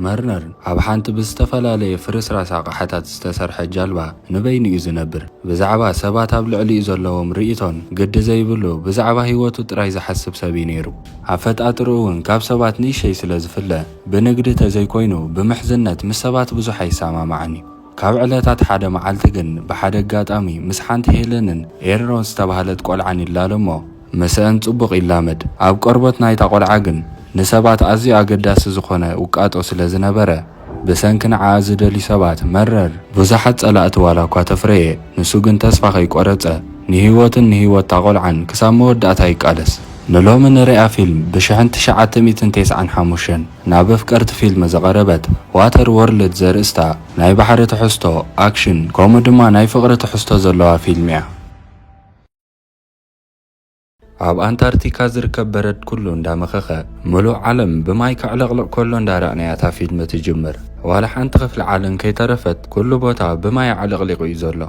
መርነር ኣብ ሓንቲ ብዝተፈላለየ ፍርስራስ ኣቕሓታት ዝተሰርሐ ጃልባ ንበይኑ እዩ ዝነብር። ብዛዕባ ሰባት ኣብ ልዕሊኡ ዘለዎም ርእይቶን ግዲ ዘይብሉ ብዛዕባ ህይወቱ ጥራይ ዝሓስብ ሰብ እዩ ነይሩ። ኣፈጣጥርኡ እውን ካብ ሰባት ንእሸይ ስለ ዝፍለ ብንግዲ ተዘይኮይኑ ብምሕዝነት ምስ ሰባት ብዙሕ ኣይሰማማዕን እዩ። ካብ ዕለታት ሓደ መዓልቲ ግን ብሓደ ኣጋጣሚ ምስ ሓንቲ ሄለንን ኤርሮን ዝተባህለት ቆልዓን ይላለ እሞ ምስእን ጽቡቕ ይላመድ። ኣብ ቆርበት ናይታ ቆልዓ ግን ንሰባት ኣዝዩ ኣገዳሲ ዝኾነ ውቃጦ ስለ ዝነበረ ብሰንኪ ንዓኣ ዝደልዩ ሰባት መረር። ብዙሓት ጸላእቲ ዋላ እኳ ተፍረየ ንሱ ግን ተስፋ ከይቆረጸ ንህይወቱን ንህይወት'ታ ቆልዓን ክሳብ መወዳእታ ይቃለስ። ንሎሚ ንርእያ ፊልም ብሽሕን ትሽዓተ ሚእትን ቴስዓን ሓሙሽተን። ናብ ኣፍቀርቲ ፊልም ዝቐረበት ዋተር ዎርልድ ዘርእስታ ናይ ባሕሪ ትሕዝቶ፣ ኣክሽን፣ ከምኡ ድማ ናይ ፍቕሪ ትሕዝቶ ዘለዋ ፊልም'ያ። ኣብ ኣንታርቲካ ዝርከብ በረድ ኩሉ እንዳመኸኸ ምሉእ ዓለም ብማይ ከዕለቕልቕ ከሎ እንዳረኣናያ እታ ፊልም ትጅምር። ዋላ ሓንቲ ክፍሊ ዓለም ከይተረፈት ኩሉ ቦታ ብማይ ኣዕለቕሊቑ'ዩ ዘሎ።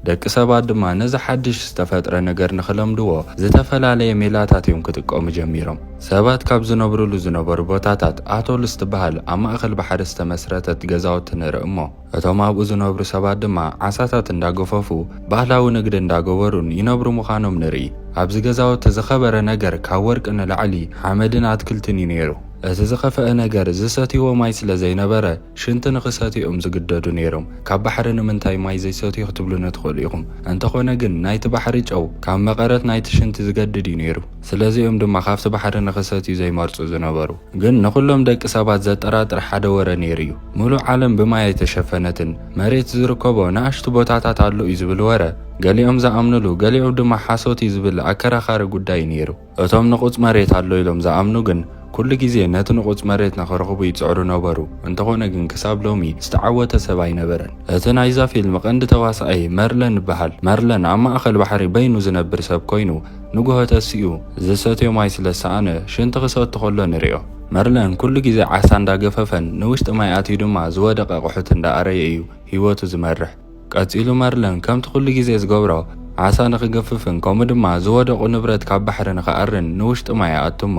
ደቂ ሰባት ድማ ነዚ ሓድሽ ዝተፈጥረ ነገር ንኽለምድዎ ዝተፈላለየ ሜላታት እዮም ክጥቀሙ ጀሚሮም። ሰባት ካብ ዝነብርሉ ዝነበሩ ቦታታት ኣቶል ዝትበሃል ኣብ ማእከል ባሕሪ ዝተመስረተት ገዛውቲ ንርኢ እሞ እቶም ኣብኡ ዝነብሩ ሰባት ድማ ዓሳታት እንዳገፈፉ ባህላዊ ንግዲ እንዳገበሩን ይነብሩ ምዃኖም ንርኢ። ኣብዚ ገዛውቲ ዝኸበረ ነገር ካብ ወርቂ ንላዕሊ ሓመድን ኣትክልትን እዩ ነይሩ። እቲ ዝኸፈኣ ነገር ዝሰትይዎ ማይ ስለ ዘይነበረ፣ ሽንቲ ንኽሰትዩ እዮም ዝግደዱ ነይሮም። ካብ ባሕሪ ንምንታይ ማይ ዘይሰትዩ ክትብሉኒ ትኽእሉ ኢኹም። እንተኾነ ግን ናይቲ ባሕሪ ጨው ካብ መቐረት ናይቲ ሽንቲ ዝገድድ እዩ ነይሩ። ስለዚ እዮም ድማ ካብቲ ባሕሪ ንኽሰትዩ ዘይመርጹ ዝነበሩ። ግን ንኹሎም ደቂ ሰባት ዘጠራጥር ሓደ ወረ ነይሩ እዩ። ምሉእ ዓለም ብማይ ኣይተሸፈነትን። መሬት ዝርከቦ ንኣሽቱ ቦታታት ኣሎ እዩ ዝብል ወረ ገሊኦም ዝኣምኑሉ ገሊኦም ድማ ሓሶት እዩ ዝብል ኣከራኻሪ ጉዳይ እዩ ነይሩ። እቶም ንቑጽ መሬት ኣሎ ኢሎም ዝኣምኑ ግን፣ ኩሉ ግዜ ነቲ ንቑጽ መሬት ንኽረኽቡ ይጽዕሩ ነበሩ፣ እንተኾነ ግን ክሳብ ሎሚ ዝተዓወተ ሰብ ኣይነበረን። እቲ ናይዛ ፊልም ቀንዲ ተዋሳኣይ መርለን ይበሃል። መርለን ኣብ ማእከል ባሕሪ በይኑ ዝነብር ሰብ ኮይኑ፣ ንጉሆ ተሲኡ ዝሰትዮ ማይ ስለ ዝሰኣነ ሽንቲ ክሰቱ ከሎ ንሪኦ። መርለን ኩሉ ግዜ ዓሳ እንዳገፈፈን ንውሽጢ ማይ ኣትዩ ድማ ዝወደቀ ኣቑሑት እንዳኣረየ እዩ ሂወቱ ዝመርሕ። ቀጺሉ መርለን ከምቲ ኩሉ ግዜ ዝገብሮ ዓሳ ንኽገፍፍን ከምኡ ድማ ዝወደቑ ንብረት ካብ ባሕሪ ንኽኣርን ንውሽጢ ማይ ይኣቱ'ሞ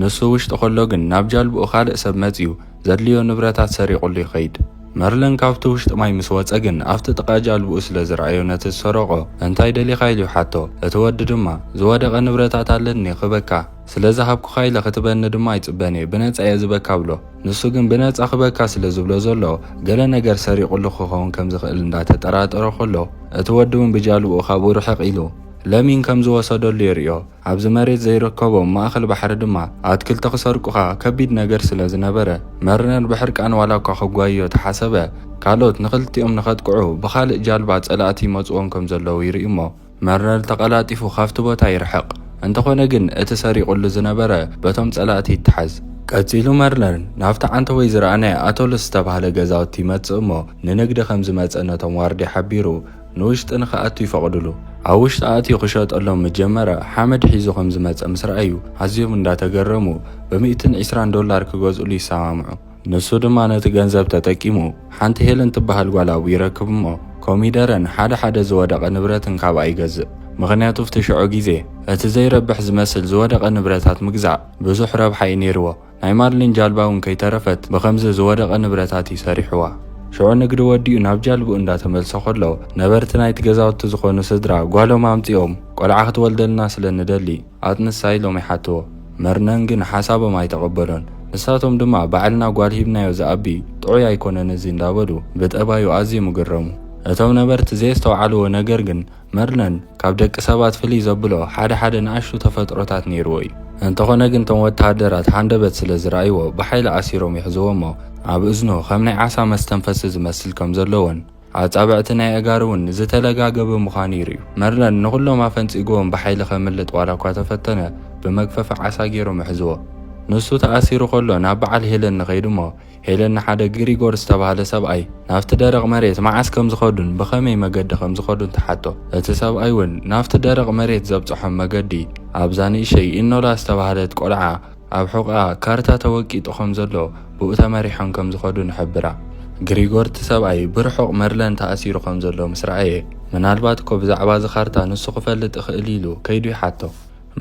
ንሱ ውሽጢ ከሎ ግን ናብ ጃልብኡ ካልእ ሰብ መጺኡ ዘድልዮ ንብረታት ሰሪቑሉ ይኸይድ። መርለን ካብቲ ውሽጢ ማይ ምስ ወጸ ግን ኣብቲ ጥቓ ጃልብኡ ስለ ዝረኣዮ ነቲ ዝሰረቖ እንታይ ደሊኻ ኢሉ ይሓቶ። እቲ ወዲ ድማ ዝወደቐ ንብረታት ኣለኒ ክበካ። ስለ ዝሃብኩኻ ኢለ ክትበኒ ድማ ኣይጽበን እየ፣ ብነጻ እየ ዝበካ እብሎ። ንሱ ግን ብነጻ ክበካ ስለ ዝብሎ ዘሎ፣ ገለ ነገር ሰሪቑሉ ክኸውን ከም ዝኽእል እንዳተጠራጠሮ ከሎ፣ እቲ ወዲ እውን ብጃልብኡ ካብኡ ርሕቕ ኢሉ፣ ለሚን ከም ዝወሰደሉ የርእዮ። ኣብዚ መሬት ዘይርከቦም ማእከል ባሕሪ ድማ፣ ኣትክልቲ ክሰርቁኻ ከቢድ ነገር ስለ ዝነበረ፣ መርነር ብሕርቃን ዋላ እኳ ክጓይዮ ተሓሰበ፣ ካልኦት ንኽልቲኦም ንኸጥቅዑ ብኻልእ ጃልባ ጸላእቲ ይመጹዎም ከም ዘለዉ ይርኢ እሞ፣ መረር ተቐላጢፉ ካብቲ ቦታ ይርሕቕ። እንተኾነ ግን እቲ ሰሪቑሉ ዝነበረ በቶም ጸላእቲ ይተሓዝ። ቀጺሉ መርለር ናብቲ ዓንተቦይ ዝረኣናዮ ኣቶልስ ዝተባህለ ገዛውቲ ይመጽእ እሞ ንንግዲ ከም ዝመጸ ነቶም ዋርድያ ሓቢሩ ንውሽጢ ንክኣቱ ይፈቕዱሉ። ኣብ ውሽጢ ኣእትዩ ክሸጠሎም ምስ ጀመረ ሓመድ ሒዙ ከም ዝመጸ ምስ ረኣዩ ኣዝዮም እንዳተገረሙ ብሚእትን ዒስራን ዶላር ክገዝእሉ ይሰማምዑ። ንሱ ድማ ነቲ ገንዘብ ተጠቂሙ ሓንቲ ሄለን ትበሃል ጓል ኣብኡ ይረክብ እሞ ኮሚደረን ሓደ ሓደ ዝወደቐ ንብረትን ካብኣ ይገዝእ። ምኽንያቱ ኣብቲ ሽዑ ግዜ እቲ ዘይረብሕ ዝመስል ዝወደቐ ንብረታት ምግዛእ ብዙሕ ረብሓ እዩ ነይርዎ። ናይ ማርሊን ጃልባ እውን ከይተረፈት ብኸምዚ ዝወደቐ ንብረታት እዩ ሰሪሕዋ። ሽዑ ንግዲ ወዲኡ ናብ ጃልብኡ እንዳተመልሰ ከሎ ነበርቲ ናይቲ ገዛውቲ ዝኾኑ ስድራ ጓሎም ኣምጺኦም ቆልዓ ክትወልደልና ስለ ንደሊ፣ ኣት ንሳይ ሎሚ ሓትዎ መርነን ግን ሓሳቦም ኣይተቀበሎን ንሳቶም ድማ ባዕልና ጓል ሂብናዮ ዝኣቢ ጥዑይ ኣይኮነን እዚ እንዳበሉ ብጠባዩ ኣዝዮም እግረሙ እቶም ነበርቲ ዘየስተውዓልዎ ነገር ግን መርነን ካብ ደቂ ሰባት ፍልይ ዘብሎ ሓደ ሓደ ንኣሽቱ ተፈጥሮታት ነይርዎ እዩ እንተኾነ ግን እቶም ወተሃደራት ሃንደበት ስለ ዝረኣይዎ ብሓይሊ ኣሲሮም ይሕዝዎሞ ኣብ እዝኑ ከም ናይ ዓሳ መስተንፈሲ ዝመስል ከም ዘለዎን ኣጻብዕቲ ናይ ኣእጋሩ እውን ዝተለጋገበ ምዃኑ ይርእዩ። መርለን ንዅሎም ኣፈንጺግዎም ብሓይሊ ከምልጥ ዋላ እኳ ተፈተነ፣ ብመግፈፊ ዓሳ ገይሮም ኣሕዝዎ። ንሱ ተኣሲሩ ከሎ ናብ በዓል ሄለን ንኸይድ እሞ፣ ሄለን ንሓደ ግሪጎር ዝተባህለ ሰብኣይ ናብቲ ደረቕ መሬት መዓስ ከም ዝኸዱን ብኸመይ መገዲ ከም ዝኸዱን ትሓቶ። እቲ ሰብኣይ እውን ናብቲ ደረቕ መሬት ዘብጽሖም መገዲ ኣብዛ ንእሸይ ኢኖላ ዝተባህለት ቈልዓ ኣብ ሕቖኣ ካርታ ተወቂጡ ከም ዘሎ ብኡ ተመሪሖም ከም ዝኸዱ ንሕብራ። ግሪጎር እቲ ሰብኣይ ብርሑቕ መርለን ተኣሲሩ ከም ዘሎ ምስ ረኣየ፣ ምናልባት እኮ ብዛዕባ እዚ ካርታ ንሱ ክፈልጥ እኽእል ኢሉ ከይዱ ይሓቶ።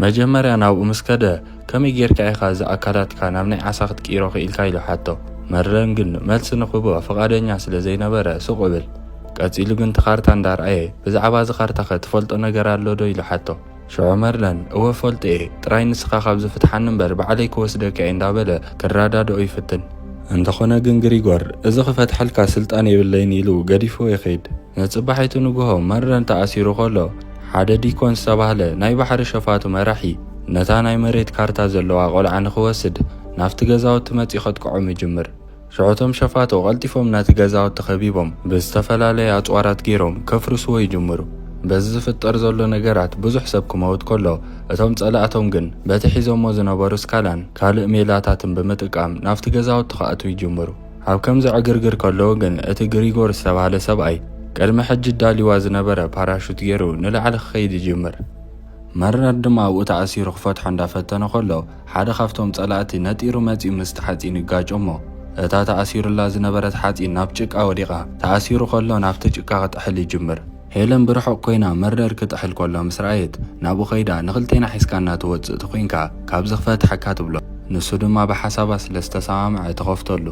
መጀመርያ ናብኡ ምስ ከደ፣ ከመይ ጌርካ ኢኻ እዚ ኣካላትካ ናብ ናይ ዓሳ ክትቅይሮ ክኢልካ ኢሉ ሓቶ። መርለን ግን መልሲ ንኽህቦ ፍቓደኛ ስለ ዘይነበረ ሱቕ እብል። ቀጺሉ ግን እቲ ካርታ እንዳ ረኣየ፣ ብዛዕባ እዚ ካርታኸ ትፈልጦ ነገር ኣሎዶ ኢሉ ሓቶ። ሽዑ መርለን እወ ፈልጦ እየ፣ ጥራይ ንስኻ ካብዚ ፍትሓኒ እምበር ባዕለይ ክወስደካ እየ እንዳበለ ክረዳድኦ ይፍትን። እንተኾነ ግን ግሪጎር እዚ ክፈትሐልካ ስልጣን የብለይን ኢሉ ገዲፍዎ ይኸይድ። ንጽባሒቱ ንግሆ መርለን ተኣሲሩ ከሎ ሓደ ዲኮን ዝተባህለ ናይ ባሕሪ ሸፋቱ መራሒ ነታ ናይ መሬት ካርታ ዘለዋ ቆልዓ ንኽወስድ ናብቲ ገዛውቲ መጺኡ ከጥቅዖም ይጅምር። ሽዑ እቶም ሸፋቱ ቀልጢፎም ነቲ ገዛውቲ ከቢቦም ብዝተፈላለዩ ኣጽዋራት ገይሮም ከፍርስዎ ይጅምሩ። በዚ ዝፍጠር ዘሎ ነገራት ብዙሕ ሰብ ክመውት ከሎ፣ እቶም ጸላእቶም ግን በቲ ሒዞሞ ዝነበሩ ስካላን ካልእ ሜላታትን ብምጥቃም ናብቲ ገዛውቲ ክኣትዉ ይጅምሩ። ኣብ ከምዚ ዕግርግር ከለዉ ግን እቲ ግሪጎር ዝተባህለ ሰብኣይ ቅድሚ ሕጂ ኣዳልዩዋ ዝነበረ ፓራሹት ገይሩ ንላዕሊ ክኸይድ ይጅምር። መርናርድ ድማ ኣብኡ ተኣሲሩ ክፈትሖ እንዳፈተነ ከሎ፣ ሓደ ካብቶም ጸላእቲ ነጢሩ መጺኡ ምስቲ ሓጺን ይጋጮ'ሞ እታ ተኣሲሩላ ዝነበረት ሓጺን ናብ ጭቃ ወዲቓ። ተኣሲሩ ከሎ ናብቲ ጭቃ ክጥሕል ይጅምር። ሄለን ብርሑቕ ኮይና መርደር ክጥሕል ከሎ ምስ ረኣየት ናብኡ ከይዳ ንኽልቴና ሒዝካና ትወጽእ ተኾይንካ ካብዚ ክፈትሓካ ትብሎ። ንሱ ድማ ብሓሳባ ስለ ዝተሰማምዐ ትኸፍተሉ።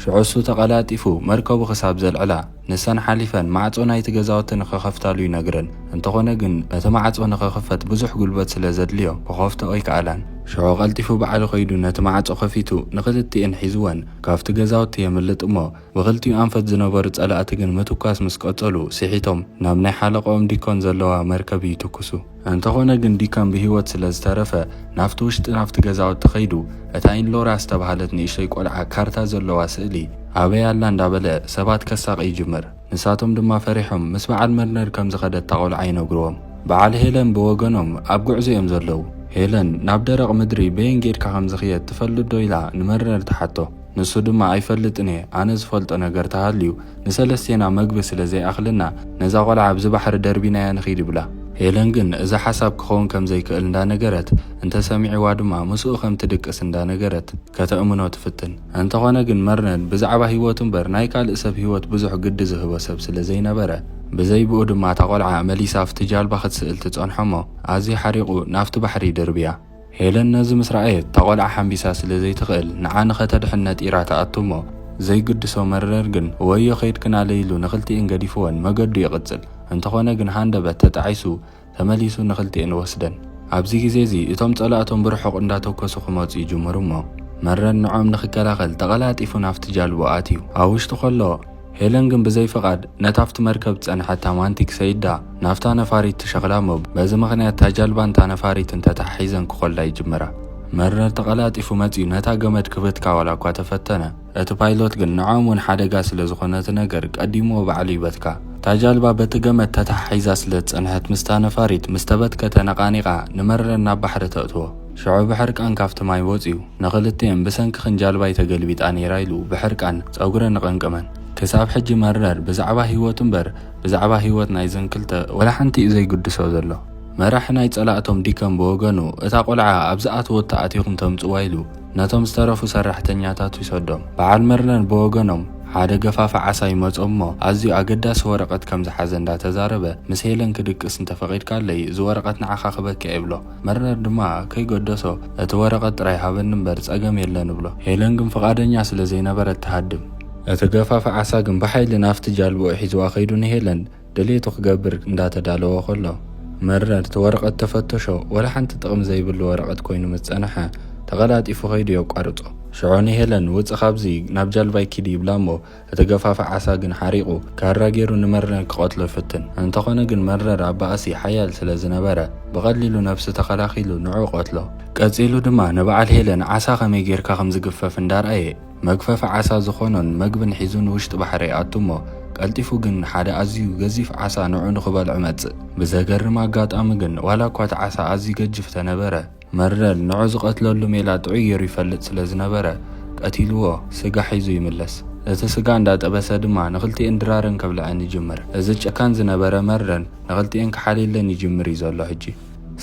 ሽዑ እሱ ተቐላጢፉ መርከቡ ክሳብ ዘልዕላ። ንሰን ሓሊፈን ማዕጾ ናይቲ ገዛውቲ ንኽኸፍታሉ ይነግረን። እንተኾነ ግን እቲ ማዕጾ ንኽኽፈት ብዙሕ ጉልበት ስለ ዘድልዮ ክኸፍቶ ኣይከኣላን። ሽዑ ቀልጢፉ ባዕሉ ከይዱ ነቲ ማዕጾ ከፊቱ ንኽልቲኤን ሒዝወን ካብቲ ገዛውቲ የምልጥ እሞ ብኽልቲኡ ኣንፈት ዝነበሩ ጸላእቲ ግን ምትኳስ ምስ ቀጸሉ ስሒቶም ናብ ናይ ሓለቐኦም ዲኮን ዘለዋ መርከብ ይትኩሱ። እንተኾነ ግን ዲካን ብህይወት ስለ ዝተረፈ ናብቲ ውሽጢ ናብቲ ገዛውቲ ከይዱ እታ ኢንሎራ ዝተባህለት ንእሽቶይ ቆልዓ ካርታ ዘለዋ ስእሊ ኣበይ ኣላ እንዳበለ ሰባት ከሳቒ ይጅምር። ንሳቶም ድማ ፈሪሖም ምስ በዓል መርነር ከም ዝኸደት እታ ቆልዓ ይነግሩዎም። በዓል ሄለን ብወገኖም ኣብ ጉዕዞ እዮም ዘለዉ። ሄለን ናብ ደረቕ ምድሪ በየን ጌድካ ከም ዝኽየድ ትፈልጥዶ ኢላ ንመርነር ትሓቶ። ንሱ ድማ ኣይፈልጥን እየ ኣነ ዝፈልጦ ነገር ተሃልዩ ንሰለስቴና መግቢ ስለ ዘይኣኽለና ነዛ ቆልዓ ኣብዚ ባሕሪ ደርቢናያ ንኺድ ይብላ። ሄለን ግን እዚ ሓሳብ ክኸውን ከም ዘይክእል እንዳ ነገረት እንተ ሰሚዕዋ ድማ ምስኡ ከም ትድቅስ እንዳ ነገረት ከተእምኖ ትፍትን። እንተ ኾነ ግን መርነን ብዛዕባ ሂወቱ እምበር ናይ ካልእ ሰብ ሂወት ብዙሕ ግዲ ዝህቦ ሰብ ስለ ዘይነበረ ብዘይ ብኡ ድማ እታ ቆልዓ መሊሳ ኣብቲ ጃልባ ክትስእል ትጸንሖ'ሞ ኣዝዩ ሓሪቑ ናብቲ ባሕሪ ይድርብያ። ሄለን ነዚ ምስ ረኣየት፣ እታ ቈልዓ ሓንቢሳ ስለ ዘይትኽእል፣ ንዓ ንኸተድሕን ነጢራ ትኣቱ እሞ፣ ዘይግድሶ መረር ግን፣ ወዮ ከይድክናለይ ኢሉ ንኽልቲኤን ገዲፍወን መገዱ ይቕጽል። እንተኾነ ግን ሃንደበት ተጣዒሱ ተመሊሱ ንኽልቲኤን ወስደን። ኣብዚ ግዜ'ዚ እቶም ጸላእቶም ብርሑቕ እንዳተኮሱ ክመጹ ይጅምሩ እሞ፣ መረር ንዕኦም ንኽከላኸል ተቐላጢፉ ናብቲ ጃልቦ ኣትዩ ኣብ ውሽጢ ከሎ፣ ሄለን ግን ብዘይ ፍቓድ ነታ ኣብቲ መርከብ ዝጸንሐታ ማንቲክ ሰይዳ ናብታ ነፋሪት ትሸኽላ እሞ በዚ ምኽንያት እታ ጃልባን እታ ነፋሪትን ተተሓሒዘን ክኾላ ይጅምራ። መርነር ተቐላጢፉ መጺኡ ነታ ገመድ ክብትካ ዋላ እኳ ተፈተነ፣ እቲ ፓይሎት ግን ንዖኦም እውን ሓደጋ ስለ ዝኾነ እቲ ነገር ቀዲምዎ ባዕሉ ይበትካ። እታ ጃልባ በቲ ገመድ ተተሓሒዛ ስለ ዝጸንሐት ምስታ ነፋሪት ምስ ተበትከ ተነቓኒቓ ንመርነር ናብ ባሕሪ ተእትዎ። ሽዑ ብሕርቃን ካብቲ ማይ ወጺኡ፣ ንኽልቲኤን ብሰንክኽን ጃልባይ ተገልቢጣ ነይራ ኢሉ ብሕርቃን ጸጉረን ኣቐንቀመን። ክሳብ ሕጂ መረር ብዛዕባ ህይወቱ እምበር ብዛዕባ ህይወት ናይዘን ክልተ ወላ ሓንቲ'ዩ ዘይግድሶ ዘሎ። መራሒ ናይ ጸላእቶም ዲከም ብወገኑ፣ እታ ቆልዓ ኣብ ዝኣተወቶ ኣቲኹም ተምጽዋ ኢሉ ነቶም ዝተረፉ ሰራሕተኛታቱ ይሰዶም። በዓል መረር ብወገኖም ሓደ ገፋፊ ዓሳ ይመጾም እሞ ኣዝዩ ኣገዳሲ ወረቐት ከም ዝሓዘ እንዳተዛረበ ምስ ሄለን ክድቅስ እንተፈቒድካለይ እዚ ወረቐት ንዓኻ ክበኪ'የ ይብሎ። መረር ድማ ከይገደሶ እቲ ወረቐት ጥራይ ሃበኒ እምበር ጸገም የለን እብሎ። ሄለን ግን ፍቓደኛ ስለ ዘይነበረት ትሃድም። እቲ ገፋፊ ዓሳ ግን ብሓይሊ ናብቲ ጃልባኡ ሒዝዋ ከይዱ ንሄለን ድሌቱ ክገብር እንዳ ተዳለወ ከሎ። መረር እቲ ወረቐት ተፈተሾ ወላ ሓንቲ ጥቕሚ ዘይብሉ ወረቐት ኮይኑ ምስ ጸንሐ ተቐላጢፉ ከይዱ የቋርጾ። ሽዑ ንሄለን ውጺ ካብዚ ናብ ጃልባይ ኪዲ ይብላ እሞ እቲ ገፋፊ ዓሳ ግን ሓሪቑ፣ ካራ ገይሩ ንመረር ክቐትሎ ይፍትን። እንተኾነ ግን መረር ኣብ ባእሲ ሓያል ስለ ዝነበረ፣ ብቐሊሉ ነብሱ ተኸላኺሉ ንዕኡ ቀትሎ። ቀጺሉ ድማ ንበዓል ሄለን ዓሳ ከመይ ገይርካ ከም ዝግፈፍ እንዳርኣየ፣ መግፈፊ ዓሳ ዝኾኖን መግብን ሒዙ ንውሽጢ ባሕሪ ይኣቱ እሞ፣ ቀልጢፉ ግን ሓደ ኣዝዩ ገዚፍ ዓሳ ንዕኡ ንክበልዖ ይመጽእ። ብዘገርም ኣጋጣሚ ግን ዋላ እኳ እቲ ዓሳ ኣዝዩ ገጅፍ ተነበረ፣ መርደል ንዑ ዝቐትለሉ ሜላ ጥዑይ ገይሩ ይፈልጥ ስለ ዝነበረ፣ ቀቲልዎ፣ ስጋ ሒዙ ይምለስ። ነቲ ስጋ እንዳ ጠበሰ ድማ ንኽልቲኤን ድራረን ከብልዐን ይጅምር። እዚ ጨካን ዝነበረ መርደል ንኽልቲኤን ክሓልየለን ይጅምር እዩ ዘሎ ሕጂ።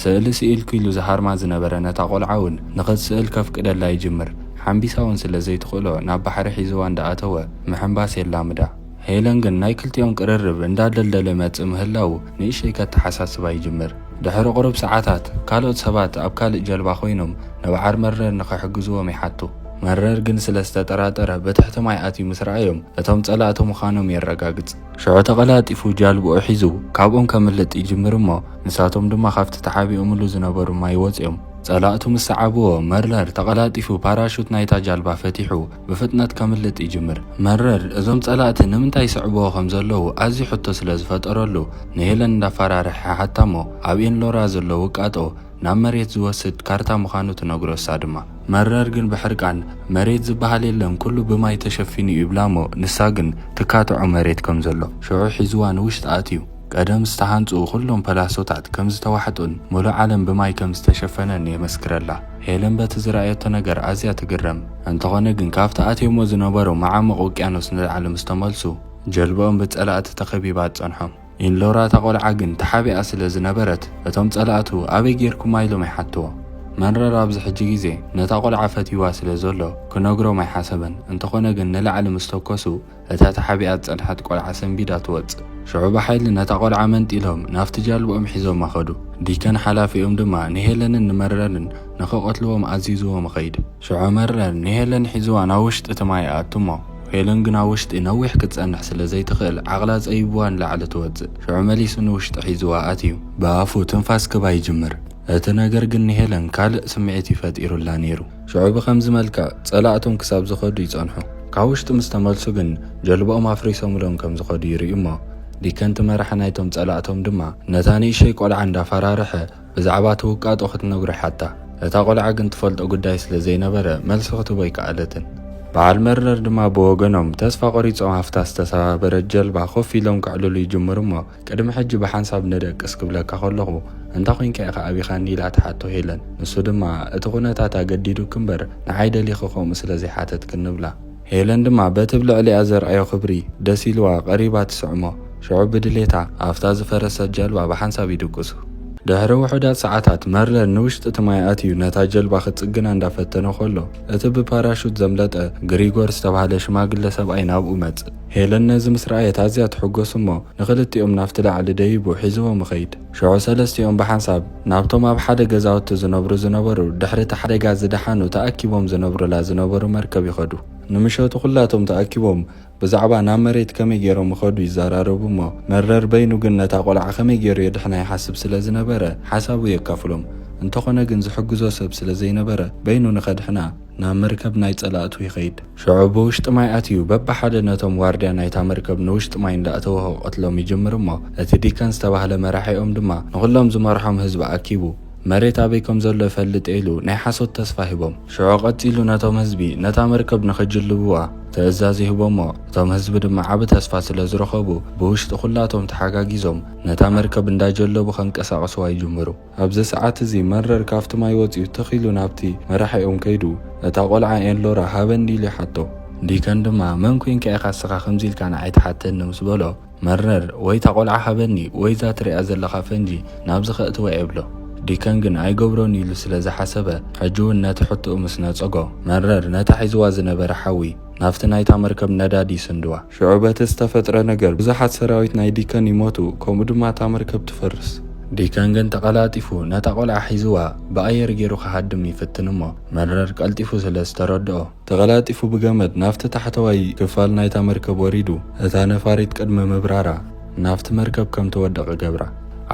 ስእሊ ስኢልኩ ኢሉ ዝሃርማ ዝነበረ ነታ ቆልዓ ውን ንኽትስእል ከፍቅደላ ይጅምር። ሓምቢሳ ውን ስለ ዘይትኽእሎ ናብ ባሕሪ ሒዝዋ እንዳ ኣተወ ምሕንባስ የላምዳ። ሄለን ግን ናይ ክልቲኦም ቅርርብ እንዳደልደለ ይመጽእ ምህላዉ ንእሽተይ ከተሓሳስባ ይጅምር። ድሕሪ ቁሩብ ሰዓታት ካልኦት ሰባት ኣብ ካልእ ጀልባ ኮይኖም ንብዓር መረር ንኽሕግዝዎም ይሓቱ። መረር ግን ስለ ዝተጠራጠረ ብትሕቲ ማይ ኣትዩ ምስ ረኣዮም እቶም ጸላእቲ ምዃኖም የረጋግጽ። ሽዑ ተቐላጢፉ ጃልብኡ ሒዙ ካብኦም ከምልጥ ይጅምር እሞ ንሳቶም ድማ ካብቲ ተሓቢኦምሉ ዝነበሩ ማይ ወጽዮም ጸላእቱ ምስ ሰዓብዎ መረር ተቐላጢፉ ፓራሹት ናይታ ጃልባ ፈቲሑ ብፍጥነት ከምልጥ ይጅምር። መረር እዞም ጸላእቲ ንምንታይ ይስዕብዎ ከም ዘለዉ ኣዝዩ ሕቶ ስለ ዝፈጠረሉ፣ ንሄለን እንዳፋራርሐ ይሓታ'ሞ፣ ኣብ ኢንሎራ ዘሎ ውቃጦ ናብ መሬት ዝወስድ ካርታ ምዃኑ ትነግሮ እሳ ድማ። መረር ግን ብሕርቃን መሬት ዝበሃል የለን ኩሉ ብማይ ተሸፊኑ'ዩ ይብላ'ሞ፣ ንሳ ግን ትካትዖ መሬት ከም ዘሎ። ሽዑ ሒዝዋ ንውሽጢ ኣትዩ። ቀደም ዝተሃንጹ ኩሎም ፐላሶታት ከም ዝተዋሕጡን ምሉእ ዓለም ብማይ ከም ዝተሸፈነን የመስክረላ። ሄለን በቲ ዝረኣየቶ ነገር ኣዝያ ትግረም። እንተኾነ ግን ካብቲ ኣትዮሞ ዝነበሩ መዓሙቕ ውቅያኖስ ንላዕሊ ምስ ተመልሱ ጀልባኦም ብጸላእቲ ተኸቢባ ትጸንሖም። ኢንሎራ እታ ቆልዓ ግን ተሓቢኣ ስለ ዝነበረት እቶም ጸላእቱ ኣበይ ጌርኩማ ኢሎም ይሓትዎ። መንረር ኣብዚ ሕጂ ግዜ ነታ ቆልዓ ፈትይዋ ስለ ዘሎ ክነግሮም ኣይሓሰበን እንተኾነ ግን ንላዕሊ ምስ ተኮሱ እታ ተሓቢኣ ዝጸንሐት ቆልዓ ሰንቢዳ ትወጽእ። ሽዑ ብሓይሊ ነታ ቆልዓ መንጢሎም ናብቲ ጃልብኦም ሒዞማ ከዱ። ዲከን ሓላፊኦም ድማ ንሄለንን ንመረርን ንኽቐትልዎም ኣዚዝዎም ይኸይድ። ሽዑ መረር ንሄለን ሒዝዋ ናብ ውሽጢ እቲ ማይ ይኣቱ እሞ ሄለን ግን ኣብ ውሽጢ ነዊሕ ክትጸንሕ ስለ ዘይትኽእል ዓቕላ ጸቢብዋ ንላዕሊ ትወጽእ። ሽዑ መሊሱ ንውሽጢ ሒዝዋ ኣትዩ ብኣፉ ትንፋስ ክባ ይጅምር። እቲ ነገር ግን ንሄለን ካልእ ስምዒት እዩ ፈጢሩላ ነይሩ። ሽዑ ብኸምዚ መልክዕ ጸላእቶም ክሳብ ዝኸዱ ይጸንሑ። ካብ ውሽጢ ምስ ተመልሱ ግን ጀልባኦም ኣፍሪሶምሎም ከም ዝኸዱ ይርእዩ እሞ፣ ዲከን እቲ መራሒ ናይቶም ጸላእቶም ድማ ነታ ንእሸይ ቆልዓ እንዳፈራርሐ ብዛዕባ እቲ ውቃጦ ክትነግሮ ይሓታ። እታ ቆልዓ ግን ትፈልጦ ጉዳይ ስለ ዘይነበረ መልሲ ክትህቦ ኣይከኣለትን። በዓል መርነር ድማ ብወገኖም ተስፋ ቆሪጾም ኣብታ ዝተሰባበረት ጀልባ ኮፍ ኢሎም ከዕልሉ ይጅምሩ እሞ፣ ቅድሚ ሕጂ ብሓንሳብ ንደቅስ ክብለካ ከለኹ፣ እንታ ዄንካ ኢኻ ኣቢኻኒ? ኢላ ትሓቶ ሄለን። ንሱ ድማ፣ እቲ ኵነታት ኣገዲዱኪ እምበር፣ ንዓይ ደሊኺ ከምኡ ስለ ዘይሓተትክኒ እብላ። ሄለን ድማ በቲ ብ ልዕሊኣ ዘርኣዮ ክብሪ ደስ ኢልዋ ቀሪባ ትስዕሞ። ሽዑ ብድሌታ ኣብታ ዝፈረሰት ጀልባ ብሓንሳብ ይድቅሱ። ድሕሪ ውሑዳት ሰዓታት፣ መርለር ንውሽጢ እቲ ማይ ኣትዩ ነታ ጀልባ ክጽግና እንዳ ፈተነ ከሎ፣ እቲ ብፓራሹት ዘምለጠ ግሪጎር ዝተባህለ ሽማግለ ሰብኣይ ናብኡ መጽእ። ሄለን ነዚ ምስ ረኣየት ኣዝያ ትሕጐስ እሞ ንኽልቲኦም ናብቲ ላዕሊ ደይቡ ሒዝዎም ይኸይድ። ሽዑ ሰለስቲኦም ብሓንሳብ ናብቶም ኣብ ሓደ ገዛውቲ ዝነብሩ ዝነበሩ ድሕሪ እቲ ሓደጋ ዝደሓኑ ተኣኪቦም ዝነብሩላ ዝነበሩ መርከብ ይኸዱ። ንምሸቱ ኵላቶም ተኣኪቦም ብዛዕባ ናብ መሬት ከመይ ገይሮም ይኸዱ ይዘራረቡ እሞ መረር በይኑ ግን ነታ ቈልዓ ከመይ ገይሩ የድሕና ይሓስብ ስለ ዝነበረ ሓሳቡ የካፍሎም። እንተዀነ ግን ዝሕግዞ ሰብ ስለ ዘይነበረ በይኑ ንኸድሕና ናብ መርከብ ናይ ጸላእቱ ይኸይድ። ሽዑ ብውሽጢ ማይ ኣትዩ በብሓደ ነቶም ዋርድያ ናይታ መርከብ ንውሽጢ ማይ እንዳእተወ ክቐትሎም ይጅምር እሞ፣ እቲ ዲከን ዝተባህለ መራሒኦም ድማ ንኹሎም ዝመርሖም ህዝቢ ኣኪቡ መሬት ኣበይ ከም ዘሎ እፈልጥ ኢሉ ናይ ሓሶት ተስፋ ሂቦም። ሽዑ ቀጺሉ ነቶም ህዝቢ ነታ መርከብ ንኽጅልብዋ ትእዛዝ ይህቦሞ፣ እቶም ህዝቢ ድማ ዓቢ ተስፋ ስለ ዝረኸቡ ብውሽጢ ኩላቶም ተሓጋጊዞም ነታ መርከብ እንዳጀለቡ ከንቀሳቕስዋ ይጅምሩ። ኣብዚ ሰዓት እዚ መረር ካብቲ ማይ ወጺኡ ትኽ ኢሉ ናብቲ መራሒኦም ከይዱ እታ ቆልዓ ኤንሎራ ሃበኒ ኢሉ ይሓቶ። ዲከን ድማ መን ኮይንካ ኢኻ እስኻ ከምዚ ኢልካ ንዓይ ትሓተኒ ምስ በሎ መረር ወይ እታ ቆልዓ ሃበኒ ወይ እዛ ትርእያ ዘለኻ ፈንጂ ናብዚ ከእትዋ ይብሎ። ዲከን ግን ኣይገብሮን ኢሉ ስለ ዝሓሰበ ሕጂ እውን ነቲ ሕቶኡ ምስ ነጸጎ መረር ነታ ሒዝዋ ዝነበረ ሓዊ ናብቲ ናይታ መርከብ ነዳዲ ይስንድዋ። ሽዑ በቲ ዝተፈጥረ ነገር ብዙሓት ሰራዊት ናይ ዲከን ይሞቱ፣ ከምኡ ድማ እታ መርከብ ትፈርስ። ዲከን ግን ተቐላጢፉ ነታ ቆልዓ ሒዝዋ ብኣየር ገይሩ ክሃድም ይፍትን እሞ መረር ቀልጢፉ ስለ ዝተረድኦ። ተቐላጢፉ ብገመድ ናብቲ ታሕተዋይ ክፋል ናይታ መርከብ ወሪዱ እታ ነፋሪት ቅድሚ ምብራራ ናብቲ መርከብ ከም ትወድቕ ገብራ።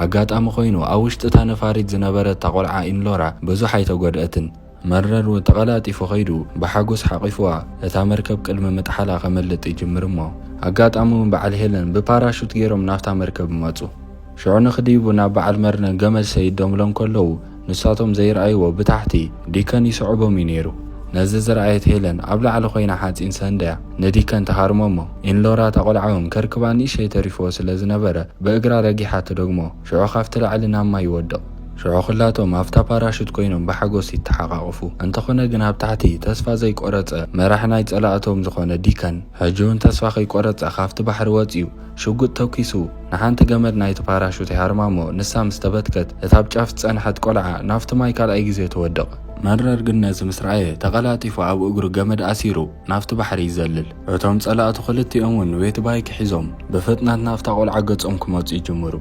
ኣጋጣሚ ኮይኑ ኣብ ውሽጢ እታ ነፋሪት ዝነበረት እታ ቆልዓ ኢንሎራ ብዙሕ ኣይተጎድኣትን። መረርዎ ተቐላጢፉ ከይዱ ብሓጎስ ሓቚፉዋ እታ መርከብ ቅድሚ ምጥሓላ ከመልጥ ይጅምር እሞ ኣጋጣሚውን በዓል ሄለን ብፓራሹት ገይሮም ናብታ መርከብ ይመጹ። ሽዑ ንክድይቡ ናብ በዓል መርነ ገመድ ሰይዶምሎም ከለዉ ንሳቶም ዘይርኣይዎ ብታሕቲ ዲከን ይስዕቦም እዩ ነይሩ። ነዚ ዝረኣየት ሄለን ኣብ ላዕሊ ኮይና ሓጺን ሰንድያ ንዲከን ትሃርሞ እሞ ኢንሎራ እታ ቆልዓውን ከርክባ ንእሽተይ ተሪፍዎ ስለ ዝነበረ ብእግራ ረጊሓ ትደግሞ። ሽዑ ካብቲ ላዕሊ ናብ ማይ ይወድቕ። ሽዑ ኹላቶም ኣብታ ፓራሹት ኮይኖም ብሓጎስ ይተሓቛቖፉ። እንተኾነ ግን ኣብ ታሕቲ ተስፋ ዘይቆረጸ መራሒ ናይ ጸላእቶም ዝኾነ ዲከን ሕጂ ውን ተስፋ ከይቆረጸ ካብቲ ባሕሪ ወጺኡ ሽጉጥ ተኲሱ ንሓንቲ ገመድ ናይቲ ፓራሹት ይሃርማ'ሞ ንሳ ምስ ተበትከት እታ ኣብ ጫፍ ዝጸንሐት ቆልዓ ናብቲ ማይ ካልኣይ ግዜ ትወድቕ። መረር ግን ነዚ ምስ ረኣየ ተቐላጢፉ ኣብ እግሩ ገመድ ኣሲሩ ናብቲ ባሕሪ ይዘልል። እቶም ጸላእቱ ክልቲኦም እውን ዌት ባይክ ሒዞም ብፍጥነት ናብታ ቆልዓ ገጾም ክመጹ ይጅምሩ።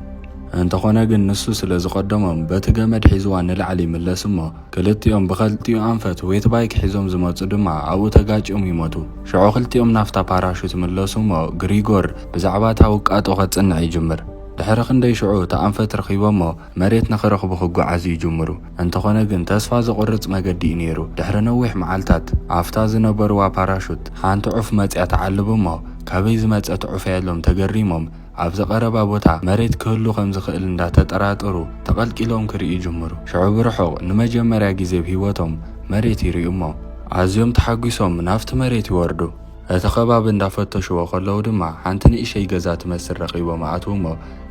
እንተኾነ ግን ንሱ ስለ ዝቐደሞም በቲ ገመድ ሒዝዋ ንላዕሊ ይምለስ እሞ ክልቲኦም ብኸልቲኡ ኣንፈት ዌት ባይክ ሒዞም ዝመጹ ድማ ኣብኡ ተጋጭዮም ይሞቱ። ሽዑ ክልቲኦም ናፍታ ፓራሹት ይምለሱ እሞ ግሪጎር ብዛዕባ እታ ውቃጦ ከጽንዕ ይጅምር። ድሕሪ ክንደይ ሽዑ እታ ኣንፈት ረኺቦሞ መሬት ንኽረኽቡ ክጓዓዙ ይጅምሩ። እንተኾነ ግን ተስፋ ዘቑርጽ መገዲ እዩ ነይሩ። ድሕሪ ነዊሕ መዓልታት፣ ኣብታ ዝነበሩዋ ፓራሹት ሓንቲ ዑፍ መጺኣ ትዓልብ እሞ፣ ካበይ ዝመጸት ዑፍ እያ ኢሎም ተገሪሞም፣ ኣብዚ ቀረባ ቦታ መሬት ክህሉ ከም ዝኽእል እንዳ ተጠራጠሩ ተቐልቂሎም ክርእዩ ይጅምሩ። ሽዑ ብርሑቕ ንመጀመርያ ግዜ ብ ህይወቶም መሬት ይርእዩ እሞ፣ ኣዝዮም ተሓጒሶም ናብቲ መሬት ይወርዱ። እቲ ከባቢ እንዳፈተሽዎ ከለዉ ድማ ሓንቲ ንእሸይ ገዛ ትመስል ረኺቦም ኣኣትዉ'ሞ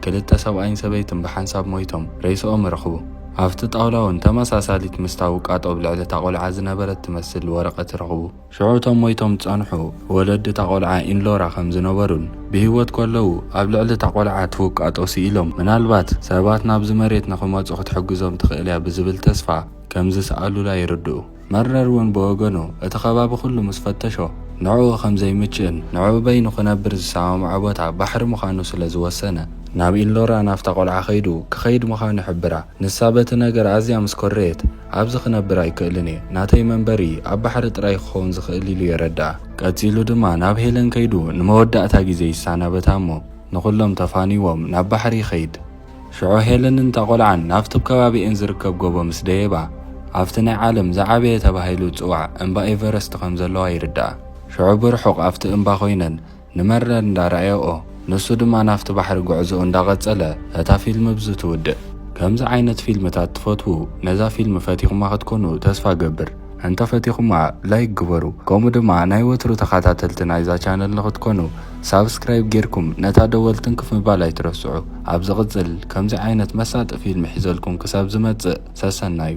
ክልተ ሰብኣይን ሰበይትን ብሓንሳብ ሞይቶም ሬስኦም ረኽቡ። ኣብቲ ጣውላ'ውን ተመሳሳሊት ምስታ ውቃጦ ኣብ ልዕሊ እታ ቆልዓ ዝነበረት ትመስል ወረቐት ረኽቡ። ሽዑ እቶም ሞይቶም ዝጸንሑ ወለዲ እታ ቆልዓ ኢንሎራ ከም ዝነበሩን ብህይወት ከለዉ ኣብ ልዕሊ እታ ቆልዓ እቲ ውቃጦ ስኢሎም ምናልባት ሰባት ናብዚ መሬት ንኽመጹ ክትሕግዞም ትኽእል'ያ ብዝብል ተስፋ ከም ዝሰኣሉላ ይርድኡ። መርነር እውን ብወገኑ፣ እቲ ከባቢ ኩሉ ምስ ፈተሾ፣ ንዕኡ ከም ዘይምችእን ንዕኡ በይኑ ክነብር ዝሰማምዖ ቦታ ባሕሪ ምዃኑ ስለ ዝወሰነ፣ ናብ ኢንሎራ ናብታ ቆልዓ ከይዱ ክኸይድ ምዃኑ ይሕብራ። ንሳ በቲ ነገር ኣዝያ ምስ ኮረየት፣ ኣብዚ ክነብር ኣይክእልን እየ፣ ናተይ መንበሪ ኣብ ባሕሪ ጥራይ እዩ ክኸውን ዝኽእል ኢሉ የረድኣ። ቀጺሉ ድማ ናብ ሄለን ከይዱ ንመወዳእታ ግዜ ይሰናበታ እሞ ንኹሎም ተፋንይዎም ናብ ባሕሪ ይኸይድ። ሽዑ ሄለንን እታ ቆልዓን ናብቲ ኣብ ከባቢኤን ዝርከብ ጎቦ ምስ ደየባ፣ ኣብቲ ናይ ዓለም ዝዓበየ ተባሂሉ ዝጽዋዕ እምባ ኤቨረስት ከም ዘለዋ ይርድኣ። ሽዑ ብርሑቕ ኣብቲ እምባ ኮይነን ንመርለር እንዳ ረኣየኦ፣ ንሱ ድማ ናብቲ ባሕሪ ጉዕዞኡ እንዳ ቀጸለ እታ ፊልም ብዚ ትውድእ። ከምዚ ዓይነት ፊልምታት ትፈትዉ ነዛ ፊልም ፈቲኹማ ክትኮኑ ተስፋ እገብር። እንተ ፈቲኹማ ላይክ ግበሩ። ከምኡ ድማ ናይ ወትሩ ተኻታተልቲ ናይዛ ቻነል ንኽትኮኑ ሳብስክራይብ ጌርኩም ነታ ደወል ትንክፍ ምባል ኣይትረስዑ ኣብ ዝቅጽል ከምዚ ዓይነት መሳጢ ፊልም ሒዘልኩም ክሳብ ዝመጽእ ሰሰናዩ።